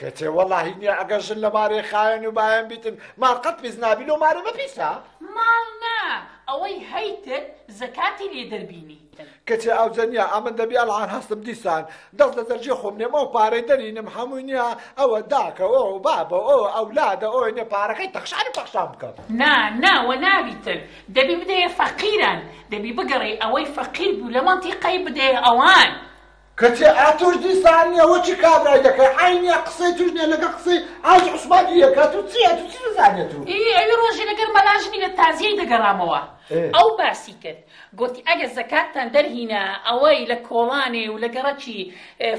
کچێ وەڵاهی نیە ئەگەر ژن لە مارێ خاوێن و بایەن بیتن ماڵ قەت پیس نابی لۆ مارێ بە پیسە ماڵ نا ئەوەی هەیتت زەکاتی لێ دەربینی کچێ ئەو جەنیا ئەمن دەبی ئەڵان هەستم دیسان دەست لە دەرجێ خۆم نێم ئەو پارەی دەرینم هەمووی نیە ئەوە داکە ئەو بابە ئەو ئەولادە ئەوی نێ پارەکەی تەخشانی پەخشان بکەم نا نا وە نابیتن دەبی بدەیە فەقیران دەبی بگەڕێی ئەوەی فەقیر بوو لە مەنتیقەی بدەیە ئەوان کچێ ئا تۆش دیسان نیە وە چی کابرای دەکەی عەی نیە قسەی توش نیە لەگە قسەی ئاج عوسمان دی یەکە تو چیە تو چی بزانێت تو ئی ئەوی ڕۆژی لەگەر مەلاژنی لە تازیەی دەگەڕامەوە ئەو باسی کرد گوتی ئەگە زەکاتتان دەرهینا ئەوەی لە کۆڵانێ و لە گەڕەکی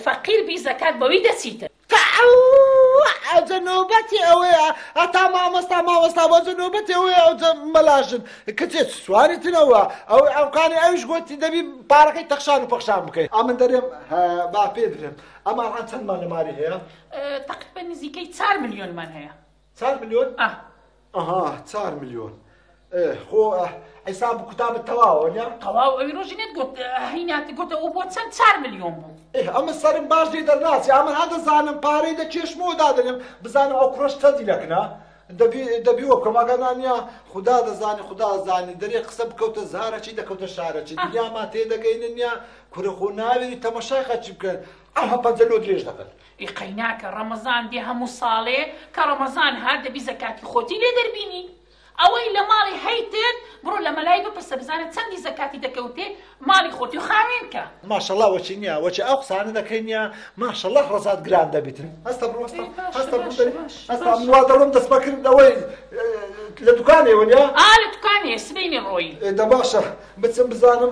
فەقیر بی زەکات بەوی دەچیتن تەعەوووع ئەوجە نۆبەتی ئەوەیە هەتا مامۆستا مامۆستا بۆجە نۆبەتی ئەوەیە ئەوجە مەلا ژن کچێ چ سواری تنەوە ئەوەی عەوقانی ئەویش گۆتی دەبی پارەکەی تەخشان و پەخشان بکەی ئەمن دەرێم هە با پێ درێم ئەمە ئەڵقان چەندمان لە ماری هەیە؟ تەقریبەن نزیکەی چار ملیۆنمان هەیە. چار ملیۆن ئە. ئەها چار ملیۆن خۆ حیساب کوتابت تەواوە نە تەواو ئەوی ڕۆژی نێت گوت هیناتی گوتە و بۆ چەند چار ملیۆن بوو ئەمە سەرم باش لێ دەرناچی ئەمە هەدەزانم پارەی دە چێشمەوە دادەنێم بزانم ئەو کوڕەش چەندی لەکنە دەبی وە بکەم ئەگەنانە خدا دەزانانی خدا زانانی دەرێ قسە بکەوتە زارەچی دەکەوتە شارەچی دنیامان تێدەگەینە نیا کورە خۆ ناوێری تەمەشای خەچی بکەن ئەها پەنجە لۆ درێژ دەکەن ئێ قەیناکە ڕەمەزان دێ هەموو ساڵێ کە ڕەمەزان هات دەبی زەکاتی خۆتی لێ دەربینی ئەوەی لە ماڵی هەیتت بڕۆ لە مەلای بپرسە بزانە چەندی زەکاتی دەکەوتێ ماڵی خۆتی خاوێن کە. ماشەڵا وەچی نیە وەچی ئەو قسانە دەکەی نیە ماشەڵا ڕەزات گران دەبیتن هەستە بڕۆ هەستە هەستە بڕۆ دەری هەستە من وا دەڵم دەست بەکرد لەوەی لە دوکانێ وەنیا ئا لە دوکانێ سبەینێ ڕۆی دە باشە بچم بزانم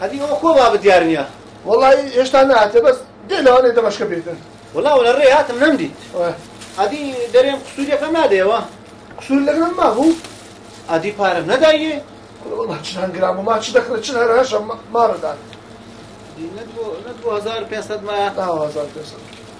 ئەدی ئەو خۆ بابە دیار نییە وڵی هێشتا ناتێ بەس دێ لەوانێ دەمەشکە بێتن وڵاو لە ڕێ هاتم نەمدیت ئەدی دەرێم قسووریەکەم نادەیەوە قسوور لەگەڵ مابوو ئەدی پارەم نەدایە وڵا چ هەنگرام و ما چ دەکرێت چ هەر هەشە ماڕدان 500 ما 1500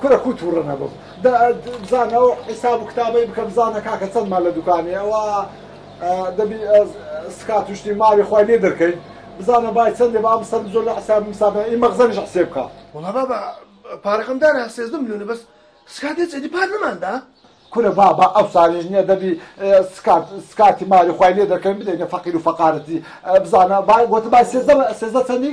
کورە کوو توڕە نەبم دە بزانە ئەو حیساب و کتابەی بکە بزانە کاکە چەندمان لە دوکانێ ئەوە دەبی سکات و شتی ماوی خوای لێ دەرکەین بزانە بای چەندێ با بسەرم زۆر لە حساب مسابە ئی مەغزەنیش حسێ بکە وڵا بابا پارەکەم دارە سێزدە ملیۆنە بەس سکات هێچ ئەدی پار نەماندا کورە بابا ئەو سالیش نییە دەبی سکات سکاتی ماوی خوای لێ دەرکەین بدەینە فەقیر و فەقارەتی بزانە با گوتە بای سێزدە سێزدە چەندی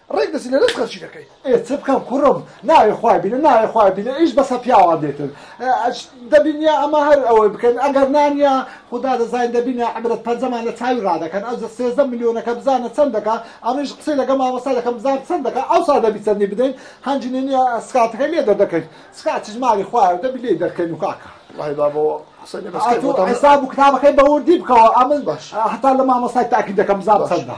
ڕێک دەچی لەلەش خەرچی دەکەی. ئێ چ بکەم کوڕم ناوێ خوای بینە ناوێ خوای بینە ئیش بەسە پیاوان دێتن دەبینیا ئەمە هەر ئەوەی بکەن ئەگەر نانیا خودا دەزانین دەبینە عەبرەت پەنجەمان لە چاوی ڕادەکەن ئەوجە سێزدە ملیۆنەکە بزانە چەند دەکا ئەمنیش قسەی لەگە مامۆستا دەکەم بزان چەند دەکا ئەوسا دەبی چەندی بدەین هەنگی نەنیا سکاتەکەی لێ دەردەکەین سکات چیش مالی خوایە دەبی لێی دەرکەین و کاکە وەڵاهی بابۆ قسەی لەگە سکای بۆ دەم ئەتوو حیساب و کتابەکەی بەوردی بکەوە ئەمن باش هەتا لە مامۆستای تاکید دەکەم بزان چەندە.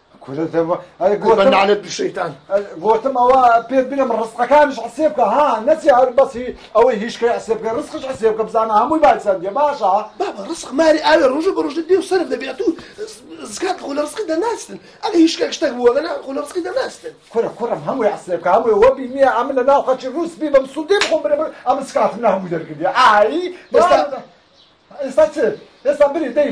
گۆتم ئەوە پێت بنم ڕستقەکانش عسێ بکە ها نەچێ هەر بەسی ئەوەی هیچکەی عسێ بکە ڕستقش عسێ بکە بزانە هەمووی باسەندێ باشە بابا ڕسق ماری ئاوێ ڕۆژە بە ڕۆژە دێ و سەرف دەبێت و زکات خۆ لە ڕسقی دەناستن ئەگە هیچکە شتێک بووە گەنا خۆ لە ڕسقی دەناستن کورە کوڕم هەمووی عسێ بکە هەمووی وەبی نییە ئەم لە ناو خەچی ڕووس بی بەم سوودێ بخۆم برێ ئەم سکاتم نە هەمووی دەرکردی ئایی ئێستا ئێستا چێ ئێستا بری دەی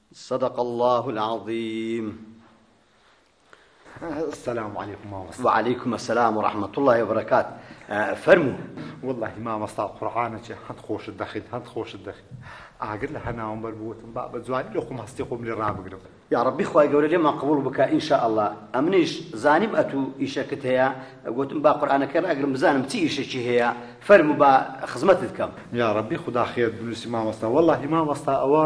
صدق اللە العظیم السلام علیکم مامۆستا وعلیکم السلام ورحمة الله وبرکات فەرموو واللهی مامۆستا قورعانە چێ هەند خۆشت دەخیت هەند خۆشت دەخیت ئاگر لە هەناوم بەر بووتم با بە جوانی لە خۆم هەستی خۆم لێ ڕابگرم یا ڕبی خخوای گەورە لێمان قبول بکە ئینشاء الله ئەمنیش زانیم ئەتوو ئیشەکت هەیە گوتم با قورآانەکە ڕاگرم بزانم چی ئیشەکی هەیە فەرمو با خزمەتت کەم یا ڕبی خوددا خێت بنووسی مامۆستا واللهی مامۆستا ئەوە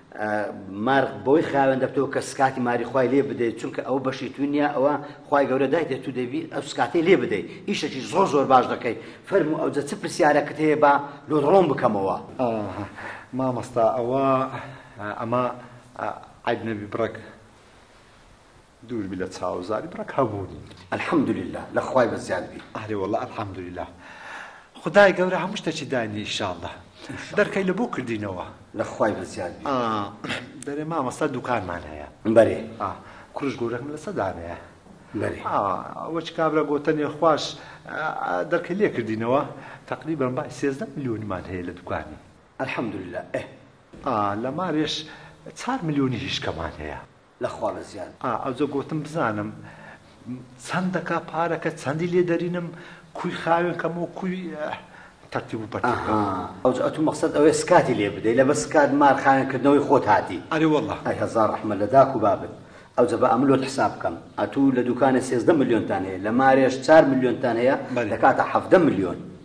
مار بەوەی خاوێن دەبتەوە کە سکاتی ماری خی لێ بدەیت چونکە ئەو بەشی تو نییە ئەوە خی گەورە دایتێ تو دەبی ئەو سکاتی لێ بدەیت ئیشەکی زۆر زۆر باش دەکەیت فەرم و ئەوجە چ پرسیارەکەت هەیە بە لۆ ڕۆم بکەمەوە مامەستا ئەوە ئەمە عیب نەبی بڕەک دووربی لە چاو زاری بڕەک هەبوونی. الحمدللە لە خوای بەزیاد بی. ئەرێ وەڵا الحمدللە خودای گەورە هەموو شتەکی داینی ئیشاڵڵە دەرکەی لە بۆ کردینەوە لە خوای بەزیاد بی. دەرێ مامۆستا دوکانمان هەیە. بەرێ کوڕش گورەکم لە سە دانەیە. بەرێ ئەوەچ کابرا گۆتەنێ خواش دەرکەی لێ کردینەوە تەقریبەن بای سێزدە ملیۆنمان هەیە لە دوکانی. الحمدللە ئه. ئا لە مارێش چار ملیۆنی هیشکەمان هەیە. لە خوا لە زیان. ئا ئەوجە گۆتم بزانم چەند دەکا پارەکە چەندی لێ دەرینم کوی خاوێن کەمەوە کوی تەرتیب و پەرتیب کەمەوە. ئەها ئەوجە ئەتو مەقسەد ئەوەیە سکاتی لێ بدەی لەبەر سکات مار خاوێن کردنەوەی خۆت هاتی. ئەرێ وەڵا. ئای هەزار ڕەحمەت لە داک و بابت. ئەوجە با ئەمن لۆت حساب بکەم ئەتو لە دوکانێ سێزدە ملیۆنتان هەیە لە مارێش چار ملیۆنتان هەیە دەکاتە حەڤدە ملیۆن.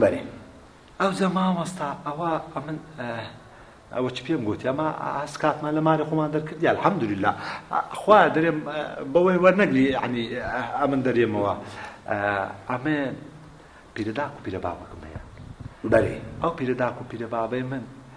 بەێ ئەوجا مامۆستا ئەوە ئەمن ئەوە چ پێم گوتی ئەمە ئاس کاتمان لە ماری خۆمان دەرکردی الحەمدللا خوا دەرێم بەوەی وەرنەگری عنی ئەمن دەرێمەوە ئەمێ پیرەداک و پیرە بابەکەم هەیە بەێ ئەو پیرەداک و پیرە بابەی من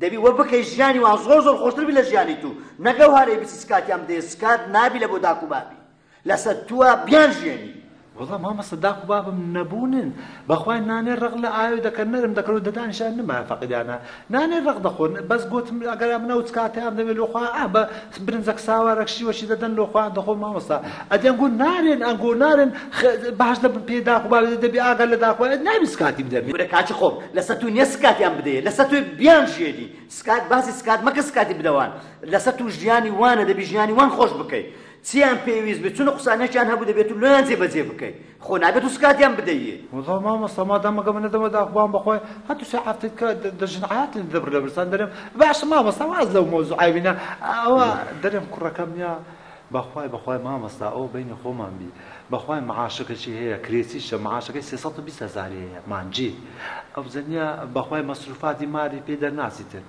دەبی وە بکەی ژیانی وان زۆر زۆر خۆشتر بی لە ژیانی تو نەک ئەو هەرەی بچی سکاتیان بدەی سکات نابی لە بۆ داک و بابی لەسەر توە بیان ژیێنی. وەڵا مامۆستا داک و بابم نەبوونن بەخوای نانێ ڕەق لە ئاوێ دەکەن نەرم دەکەن و دەدانیش ئەنمایان فەقیرانە نانێ ڕەق دەخۆن بەس گۆتم ئەگەر ئەمن ئەو چکاتەیان دەوێ لۆ خوا ئا بە برنجەک ساوارەک شیوەکی دەدەن لۆ خۆیان دەخۆن مامۆستا ئەدی ئەنگۆ نارێن ئەنگۆ نارێن باش دەبن پێ داخ با دەبی ئاگا لە داخ ئەت نابی سکاتی بدەبی ورە کاکی خۆم لەسەر تو نیە سکاتیان بدەیە لەسەر توێ بیان ژێری سکات باسی سکات مەکە سکاتی بدەوان لەسەر تو ژیانی وانە دەبی ژیانی وان خۆش بکەی چیان پێویست بێ چونە قوسانێکیان هەبوو دەبێت تو لۆیان جێ بەجێ بکەی خۆ نابێ دوو سکاتیان بدەیێ. وەڵا مامۆستا مادام مەگە من نەدەمە داخبان بەخوای هەتوو سێ حەفتەت کە دەژن عەیاتن دەبر لە برسان دەرێم باشە مامۆستا واز لەو مەوزوعای بینە ئەوە دەرێم کوڕەکەم یا بەخوای بەخوای مامۆستا ئەوە بەینی خۆمان بی بەخوای معاشەکەشی هەیە کرێچیشە معاشەکەی سێ سەد و بیست هەزاری هەیە مانگی ئەو زەنیە بەخوای مەسروفاتی ماری پێ دەرناچی تر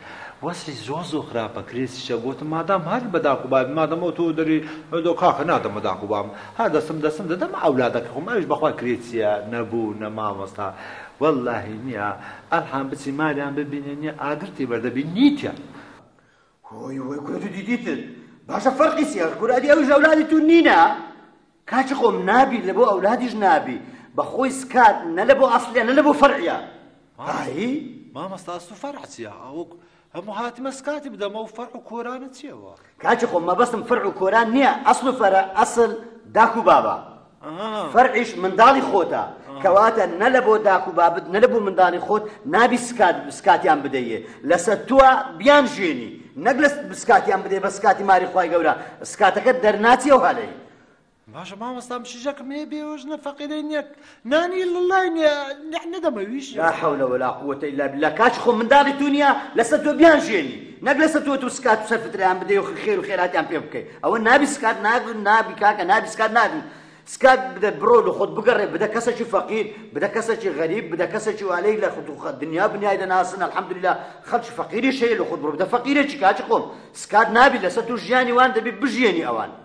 وەزعی زۆر زۆر خراپە کرێچیشە گۆتم مادام هەر بە داکوبابی مادەمەوە تۆ دەری دۆ کاکە نادەمە داکوبام ها دەسم دەسم دەدە مە ئەولادەکە خۆم ئەویش بەخوا کرێ چیە نەبوو نە مامۆستا وەلاهی نیە ئەلحان بچی مالیان ببینێ نیە ئاگرتی بەردە بی نیتە. هۆی هۆی کورە تو دیدیتن باشە فەرقی چیە کورە ئەدی ئەویش ئەولادی تو نینە کاچی خۆم نابی لە بۆ ئەولادیش نابی بە خۆی سکات نە لە بۆ ئەسلیە نە لە بۆ فەرعیە هایی مامۆستا ئەسڵ فەرع چیە ئەوک هەموو هاتمە سکات بدەمە و فەرع و کۆرانت چیە وەڕ. کاکی خۆم مەبەستم فەرع و کۆران نییە ئەسڵ و فەرع ئەسڵ داک و بابە فەرعیش منداڵی خۆتە کەواتە نە لە بۆ داک و بابت نە لە بۆ منداڵی خۆت نابی سکات سکاتیان بدەیێ لەسەر تووە بیان ژێنی نەک لە سکاتیان بدەی بە سکاتی ماری خوای گەورە سکاتەکە دەرناچی و هەلەی باشە مامۆستا مشیژەکم هەیە بێوەژنە فەقیرەی نییە نانی لەلای نییە نەدەمەویش لا حەولە ولا قووەتە ئیلا بالله کاچ خۆ منداڵی تو نییە لەسەر تۆ بیان ژێنی نەک لەسەر تۆ تو سکات و سەرفتریان بدەی و خێر و خێراتیان پێ بکەی ئەوە نابی سکات نابی نابی کاکە نابی سکات نابی سکات بدە بڕۆ لە خۆت بگەڕێ بدە کەسێکی فەقیر بدە کەسێکی غەریب بدە کەسێکی والەی لە خود دنیا بنیای دەناسن الحەمدلله خەڵکی فەقیری شەیە لە خود بڕۆ بدە فەقیرێکی کاچ خۆم سکات نابی لەسەر تو ژیانی وان دەبی بژیێنی ئەوان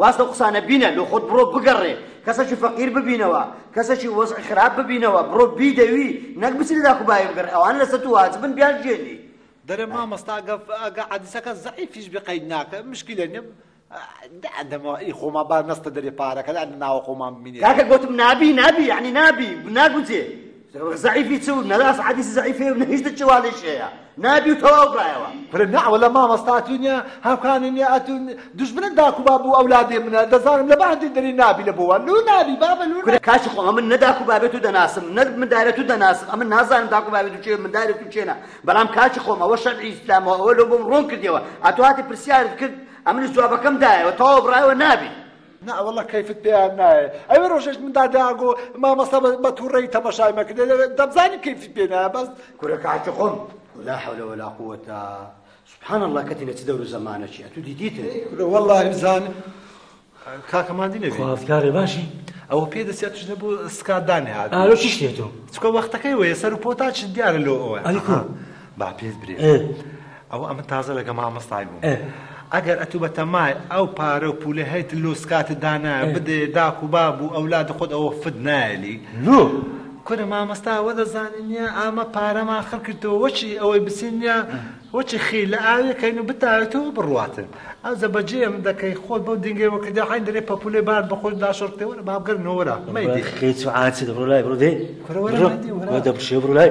واز لەو قسانە بینە لۆ خۆت بڕۆ بگەڕێ کەسەکی فەقیر ببینەوە کەسەکی وەزعی خراپ ببینەوە بڕۆ بیدەوی نەک بچی لە داک و باوی بگەڕێ ئەوانە لەسەر تو واجبن بیانژیێنی. دەرێ مامۆستا گە ئەگە عەدیسەکە زەعیفیش بێ قەید ناکە مشکلە نیە دەمەوە ئی خۆما با نەستە دەرێ پارەکە دانە ناوە خۆمان بمینێ کاکە گۆتم نابی نابی یعنی نابی ناگونجێ زەعیفی چ و نەراست حەدیسی زەعیفێ و نەهیشت چ والیش هەیە نابی و تەواو برایەوە برە نەعوە لە مامەستا تو نیە هاوکانی نیە ئەتو دژبنە داکو باب و ئەولادێ منە دەزانم لە بەهەندی دەری نابی لە بۆوە لو نابی بابە لو کورە کاچی خۆ من نە داکو بابێ تو دەناسم نە مندارە تو دەناسم ئەمن نازانم داکو بابێ تو چێ مندارە تو چێنە بەڵام کاچی خۆم ئەوە شەرعی ئیسلامەوە ئەوە لۆ بۆم ڕۆن کردیەوە ئەتو هاتی پرسیارت کرد ئەمنش جوابەکەم دایەوە تەواو برایەوە نابی نا واللە کەیفت پێیان نایێ ئەوێ ڕۆژێک من داداگۆ مامەستا بە توڕەی تەمەشای مەکردێ دەبزانی کەیفت پێ نایە بەس کورە کاتی خۆم لا حول ولا قوة سبحان الله کەتی لە چ دەور و زەمانەکی ئەتو دیدیتن کورە والله بزان کاکەمان دینێ خوازکارێ باشی ئەوە پێ دەسێت شتە بۆ سکات دانێ هات ئارۆ چی شتێتەوە چکە وەختەکەی وەیە سەر و پۆتا چ دیارە لۆ ئەوە ئەلیکۆ با پێت برێ ئەوە ئەمن تازە لەگە مامۆستای بووم ئەگەر ئەتوو بەتەمای ئەو پارە و پولە هەیت لۆ سکاتت دانا بدێ داک و باب و ئەولاد خۆت ئەوە فت نایەلی لۆ کورە مامۆستا ئەوە دەزانی نیە ئامە پارەمان خڕ کردەوە وەچی ئەوەی بچین نیە وەچی خی لە ئاوێکەین و بتاوێتەوە بڕواتن ئەو زەبەجێم دەکەی خۆت بەو دینگەوە کردە حین دەرێ پەپولێ بار بەخۆت داشۆرتەوە لە بابگەر نۆرە مەیدی خێچ و عاچت بڕۆ لای بڕۆ دێ دەبشێ بڕۆ لای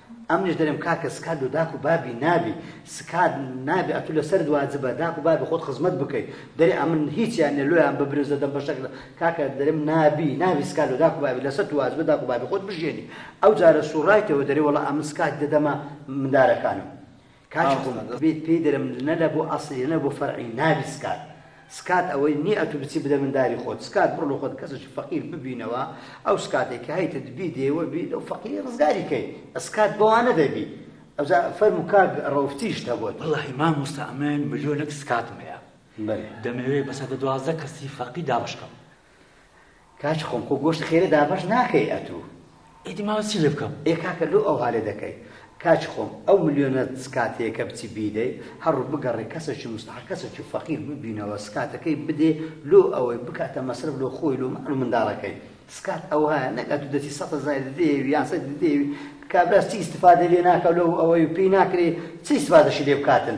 ئەمنیش دەرێم کاکە سکات لۆ داک و بابی نابی سکات نابی ئەتو لەسەر دواجبە داک و بابی خۆت خزمەت بکەیت دەرێ ئەمن هیچیان نە لۆیان ببرێ زەدەم بەشەک لە کاکە دەرێم نابی نابی سکات لۆ داک و بابی لەسەر دواجبە داک و بابی خۆت بژێنی ئەو جارە سوڕایتەوە دەرێ وەڵا ئەمن سکات دەدەمە مندارەکانم کاکی خۆم بێت پێی دەرم نە لە بۆ ئەسڵی نە بۆ فەرعی نابی سکات سکات ئەوەی نیە ئەتوو بچی بدە منداری خۆت سکات بڕۆ لە خۆت کەسێکی فەقیر ببینەوە ئەو سکاتێک کە هەیتت بی دێوە بی لەو فەقیری ڕزگاری کەی ئەسکات بەوانە دەبی ئەوجا فەرمو کاک ڕەوفتیش هەبووە وەڵاهی مامۆستا ئەمن ملیۆنەک سکاتم هەیە دەمەوێ بە سەدە دوازدە کەسی فەقی دابەشکەم کاچ خۆم خۆ گۆشت خێرە دابەش ناکەی ئەتوو. ئیدی ماوە چی لێ بکەم؟ ئێ کاکە لۆ ئەوها لێ دەکەی؟ کاچ خۆم ئەو ملیۆنە سکاتەیەکە بچی بیدەی هەڕو بگەڕێ کەسەکی موستەحەق کەسەکی فەقیر ببینەوە سکاتەکەی بدێ لۆ ئەوەی بکاتە مەسرەف لۆ خۆی لۆ ماڵ و منداڵەکەی سکات ئەوهایە نەک ئەتوو دەچی سەد هەزاری دەیەوی یان سەد دەیەوی کابرا چی ئیستفادەی لێ ناکا لۆ ئەوەی پێی ناکرێ چی ئیستفادەشی لێ بکاتن؟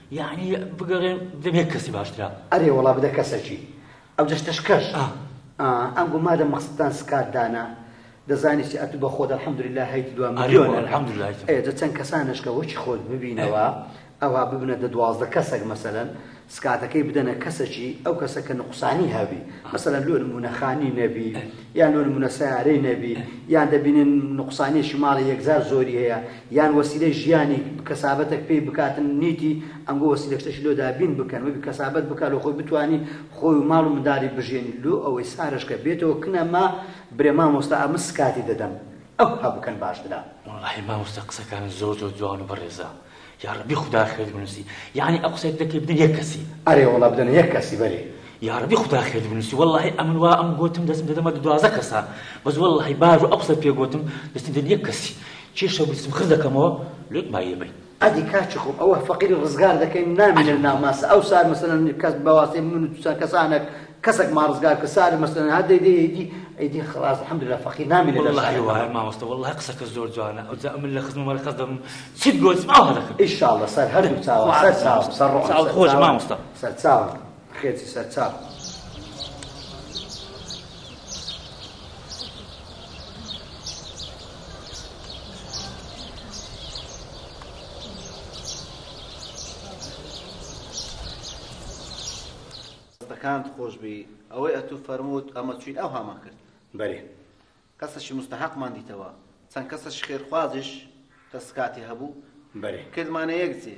یەعنی بگەڕێن دەبێ کەسی باشترە. ئەرێ وەڵا بدە کەسەکی ئەو جەستەشکەش ئا ئا ئەنگۆ مادەم مەقسەدتان سکات دانا دەزانی چی ئەتوو بە خۆت الحمدللە هەیت دوا ئەرێ وەڵا ملیۆنەر الحمدللە هەیتم. ئەیە جە چەند کەسانەش کە وەکی خۆت ببینەوە ئەوا ببنە دە دوازدە کەسەک مەسەلەن سکاتەکەی بدەنە کەسەکی ئەو کەسە کە نوقسانی هەبی مەسەلەن لۆ نموونە خانی نەبی یان لۆ نموونە سەیارەی نەبی یان دەبینن نوقسانیەکی ماڵی یەکجار زۆری هەیە یان وەسیلەی ژیانیک کەسابەتەک پێی بکاتن نیتی ئەنگۆ وەسیلەکشتەشی لۆ دابین بکەن وەبی کەسابەت بکا لۆ خۆی بتوانی خۆی و ماڵ و مندالی بژێنی لۆ ئەوەی سارەش کە بێتەوە کنە ما برێ مامۆستا ئەمن سکاتی دەدەم ئەوها بکەن باشترە. وەڵاهی مامۆستا قسەکانت زۆر زۆر جوان و بەڕێزە یاڕەبی خودا خێرت بنوسی یەعنی ئەو قسەی دەکەی بدەن یەک کەسی ئەرێ وەڵا بدەنە یەک کەسی بەرێ یاڕەبی خودا خێرت بنوسی وەڵاهی ئەمن وا ئەم گۆتم دەستم دەدەمە دوازە کەسا بەس وەڵاهی بار و ئەو قسەت پێ گۆتم دەستم دەدەن یەک کەسی چی شەو بیسم خز دەکەمەوە لوت مایە بی. ئەدی کاچی خۆم ئەوە فەقیر ڕزگار دەکەین نامینن ناماسە ئەو سار مەسەلەن کەس بەواسێ من و توسان کەسانەک کەسەک ما ڕزگار کە سار مەسەلەن هەر دەی دەی ئەیدی ئەیدی خلاص الحمدللە فەقیر نامینە لە والله وایە مامۆستا والله قسەکە زۆر جوانە ئەو جا من لە خزم وەرە قەس دەم چیت گۆتم ئەوە دەکەم ان شاء الله سەر هەردوو چاوە سەر چاوم سەر ڕۆحم سەر چاوت خۆش مامۆستا سەر چاوم خێچی سەر چاپ. دەستەکانت خۆش بی ئەوەی ئەتوو فەرمووت ئەمە چوین ئەو هامان کرد بەێ کەسەشی مستحقمان دیتەوە چەند کەسەش خێرخوازش دەستکاتی هەبوو بەێ کردمانە یەک جێ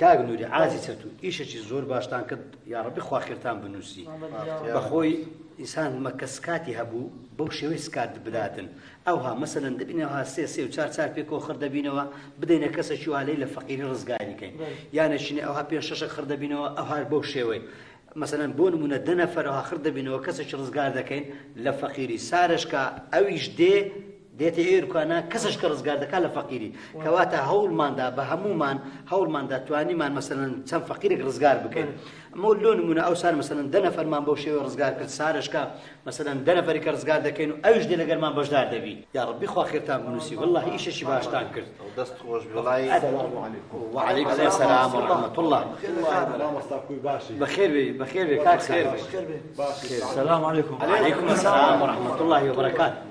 کاک نوری عازی چەتو ئیشەکی زۆر باشتان کرد یاڕبی خواخێرتان بنووسی بەخۆی ئینسان مەکە سکاتی هەبوو بەو شێوەی سکات برادن ئەوها مەسەن دەبینەوە سێ سێ و چار چار پێکەوە خڕ دەبینەوە بدەینە کەسەکی والی لە فەقیری ڕزگاری کەین یانەشینە ئەوها پێ شەشە خڕ دەبینەوە ئەوهار بەو شێوەی مەسەن بۆ نمونە دەنەفەرەوە خڕ دەبینەوە کەسەکی ڕزگار دەکەین لە فەقیری سارشکە ئەویش دێ دێتە ئێر کوانا کەسش کە ڕزگار دەکات لە فەقیری کەواتە هەوڵماندا بە هەمومان هەوڵماندا توانیمان مەسەن چەند فەقیرێک ڕزگار بکەین ئەمە لۆ نمونە ئەو سار مەسەن دەنە فەرمان بۆ شێوە ڕزگار کرد سارشکە مەسەن دەنە فەریکە ڕزگار دەکەین و ئەوش دێ لەگەرمان بەشدار دەبی یا ڕبی خواخێتان بنووسی والله ئیشەشی باشتان کرد دەست خۆش بڵی وعلیک سلام ورحمة الله بخير بي بخير بي كاك خير بي السلام عليكم وعليكم السلام ورحمة الله وبركاته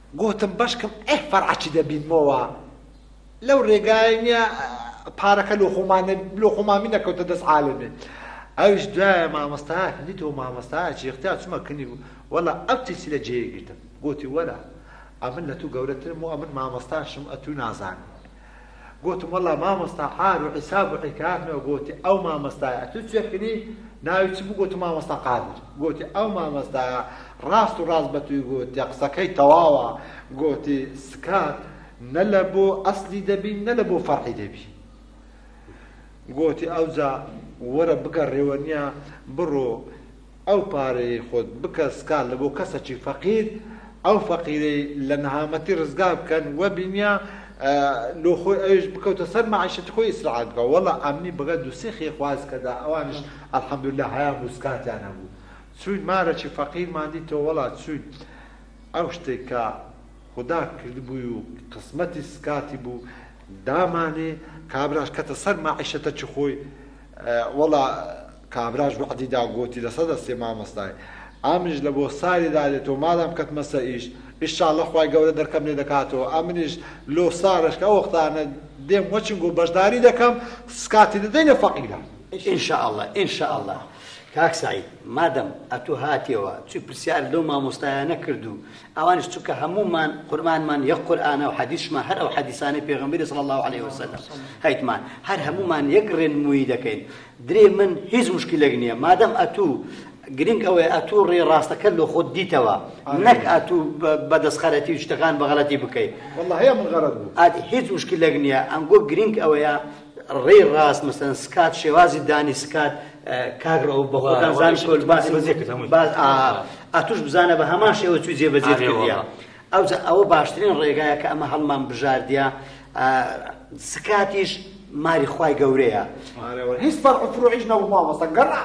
گۆتم بەشکم ئەی فەرعە چ دەبینمۆوە لەو رێگایە نیە پارەکە لۆ خۆمان لۆ خۆمامی نەکەوتە دەست عالمێ ئەوش دوایە مامۆستا هەلی تۆ مامۆستا چێختیا چمە کنی بوو وەڵا ئەو تیسی لە جێ گرتم گۆتی وەرە ئەمن لە تو گەورەترم و ئەمن مامۆستاشم ئەتوو نازانم گۆتم وەڵا مامۆستا عار و عیساب و عیکافنە گۆتی ئەو مامۆستایە ئەتوو چێ کری ناوی چ بوو گۆتم مامۆستا قادر گۆتی ئەو مامۆستایە ڕاست و ڕاست بە تووی گۆتیە قسەکەی تەواوە گۆتی سکات نە لە بۆ ئەسلی دەبی نە لە بۆ فەرعی دەبی گۆتی ئەوجا وەرە بگەڕێوە نیە بڕۆ ئەو پارەیەی خۆت بکە سکا لە بۆ کەسەکی فەقیر ئەو فەقیرەی لە نەهامەتی ڕزگار بکەن وە بینیە لۆ خۆی ئەویش بکەوتە سەر مەعیشەتی خۆی ئیسراعات بکە وەڵا ئەمنی بەگە دوسیخی خواز کەدا ئەوانیش الحمدللە هەیان بوو سکاتیان هەبوو چوین مارەکی فەقیرمان دیتەوە وەڵا چوین ئەو شتەی کە خودا کردبووی و قسمەتی سکاتی بوو دامانێ کابراش کەتە سەر مەعیشەتە چ خۆی وەڵا کابراش وەعدی دا گۆتی لە سەدا سێ مامۆستای ئامنیش لە بۆ ساری دادێتەوە مادام کەتمە سەر ئیش ئیشاڵڵە خوای گەورە دەرکەم لێ دەکاتەوە ئەمنیش لۆ سارش کە ئەو وەختانە دێم وەچنگ و بەشداری دەکەم سکاتی دەدەینە فەقیرە ئینشاءاللە ئینشاءاللە کاک سعید مادەم ئەتوو هاتیەوە چی پرسیار لەو مامۆستایانە کرد و ئەوانیش چونکە هەموومان قورئانمان یەک قورئانە و حەدیثمان هەر ئەو حەدیثانەی پێغەمبەری صلی الله علیه وسلم هەیتمان هەر هەموومان یەک ڕێنموویی دەکەین درێ من هیچ مشکلێک نییە مادەم ئەتوو گرنگ ئەوەیە ئەتوو ڕێ ڕاستەکە لۆ خۆت دیتەوە نەک ئەتوو بەدەستخەرەتی و شتەکان بەغەڵەتی بکەیت هیچ مشکلێک نییە ئەنگۆ گرنگ ئەوەیە ڕێی ڕاست مەسەن سکات شێوازی دانی سکات کاک ڕەو بە خۆتان زان شۆل باسی ئەتوش بزانە بە هەمان شێوە چوی جێبەجێ کردە ئەو ئەوە باشترین ڕێگایە کە ئەمە هەڵمان بژاردە سکاتیش ماری خی گەورەیە هیچ فەرعفرۆیش نەبوو مامۆستا گەڕ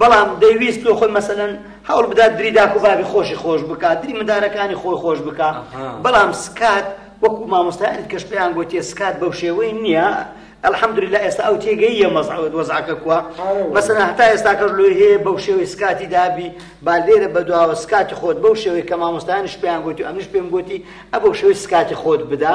بەڵام دەیویست لۆ خۆی مەسەلەن هەوڵ بدات دری داک و بابی خۆشی خۆش بکات دری مندارەکانی خۆی خۆش بکە بەڵام سکات وەکو مامۆستایانی کەش پێیان گوتێ سکات بەو شێوەی نییە الحمدلله ئێستا ئەو تێگەیە مەزعود وەزعکە کووە مەسەن هەتا ئێستا کەش لۆی هەیە بەو شێوەی سکاتی دابی با لێرە بەدواوە سکاتی خۆت بەو شێوەی کە مامۆستایانش پێیان گوتی ئەمنش پێم گوتی ئە بەو شێوەی سکاتی خۆت بدا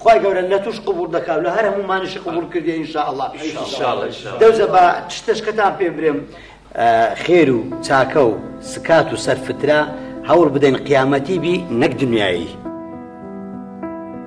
خوای گەورە لەتوش قبوڵ دەکا و لە هەر هەموومانیشی قبوڵ کردی ان شاء اللە دەوزە با چشتەشکەتان پێ برێم خێر و چاکە و سکات و سەرفترە هەوڵ بدەین قیامەتی بی نەک دنیایی.